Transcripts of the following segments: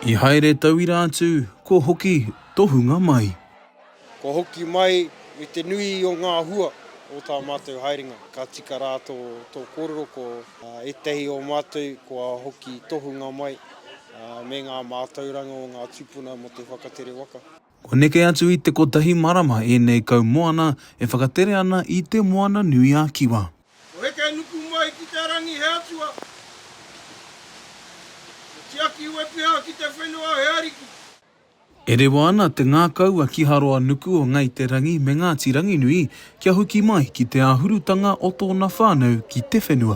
I haere tauira atu, kua hoki tohunga mai. Kua hoki mai me te nui o ngā hua o tā mātou haerenga. Ka tika rā tō kōrero ko ētahi o mātou kua hoki tohunga mai me ngā mātauranga o ngā tūpuna mō te whakatere waka. Kua neke atu i te kotahi marama ēnei kaumoana e whakatere ana i Te Moana-nui-a-Kiwa. Kua heke nuku mai ki te rangi he Atua, kua tiaki wepeha ki te whenua he Ariki. E rewa ana te ngākau a Kiharoa-nuku o Ngāi Te Rangi me Ngāti Ranginui kia hoki mai ki te āhurutanga o tōna whānau ki te whenua.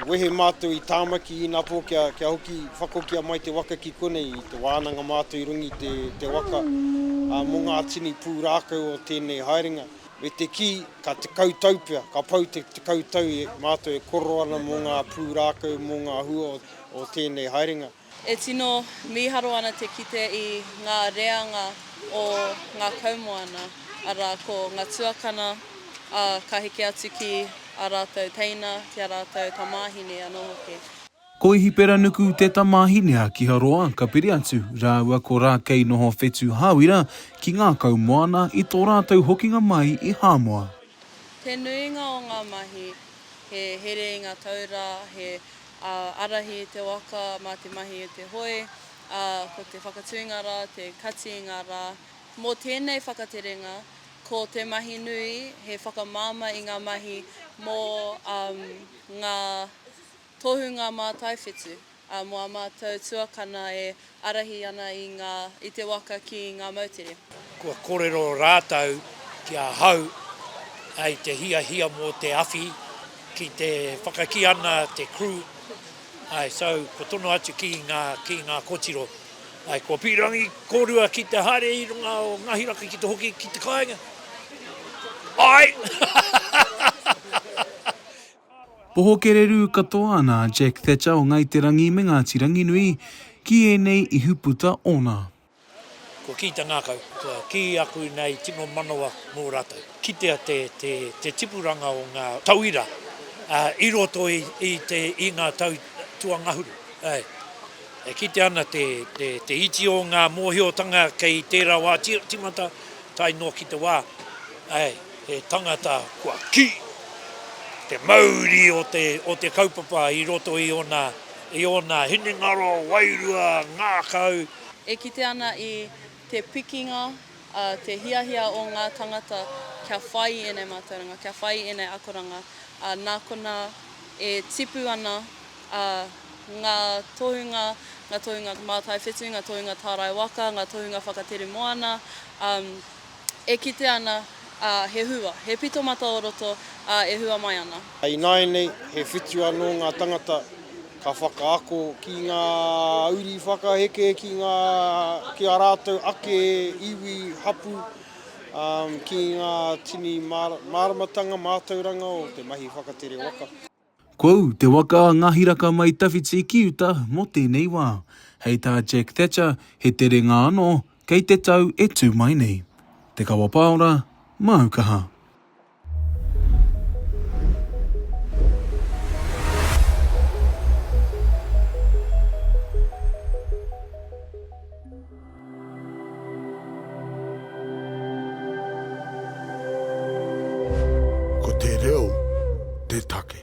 Wehe mātou i Tāmaki inapō kia hoki whakokia mai te waka ki konei i te wānanga mātou i runga i te waka mō ngā tini pūrākau o tēnei haerenga. Me te kī, ka tekau tau pea, ka pau te tekau tau mātou e kōrero ana mō ngā pūrākau, mō ngā hua o tēnei haerenga. E tino mīharo ana te kite i ngā reanga o ngā kaumoana, arā, ko ngā tuakana, ā, ka heke atu ki ā rātou teina, ki ā rātou tamāhine anō hoki. Ko Ihiperanuku te tamāhine a Kiharoa, ka piri atu rāua ko Rākei noho whetū hāwira ki ngā kaumoana i tō rātou hokinga mai i Hāmoa. Te nuinga o ngā mahi, he here i ngā taura, he ārahi i te waka mā te mahi i te hoe, ā, ko te whakatūnga rā te kati i ngā rā. Mō tēnei whakaterenga, ko te mahi nui he whakamāmā i ngā mahi mō ngā tohunga mātaiwhitu, ā, mō ā mātou tuakana e Ārahi ana i ngā, i te waka ki ngā moutere. Kua korero rātou ki ahau i te hiahia mō te awhi ki te whakakī ana te crew, āe, so, kua tono atu ki ngā, ki ngā kotiro, āe, kua pīrangi kōrua ki te haere i runga o Ngāhi Raka ki te hoki ki te kāinga, āe! Oho kererū katoa ana a Jack Thatcher o Ngāi Te Rangi me Ngāti Ranginui ki ēnei ihuputa ōna. Kua kī te ngākau, kua kī aku nei tino manawa mō rātou. Kitea te tipuranga o ngā tauira i roto i ngā tau tuangahuru. E kitea ana te iti o ngā mōhiotanga kei tērā wā tīmata, Tae noa ki te wā, āe, he tangata kua kī te mauri o te kaupapa i roto i ōna, i ōna hinengaro, wairua, ngākau. E kite ana i te pikinga, te hiahia o ngā tangata kia whai i ēnei mātauranga, kia whai i ēnei akoranga, nā konā e tipu ana. ā, ngā tohunga, ngā tohunga mātaiwhītu, ngā tohunga tārai waka, ngā tohunga whakatere moana, ā, e kite ana, ā, he hua, he pito mata o roto, ā, e hua mai ana. Ināianei, he whitu anō ngā tangata ka whakaako ki ngā uri whakaheke ki ngā, ki ā rātou ake iwi hapū, ā, ki ngā tini māramatanga mātauranga o te mahi whakatere waka. Kua ū te waka a Ngahiraka mai tawhiti ki uta mō tēnei wā. Hei tā Jack Thatcher, he terenga anō, kei te tau e tū mai nei. Te Kawa Paora, māu kaha. Ko te reo te take.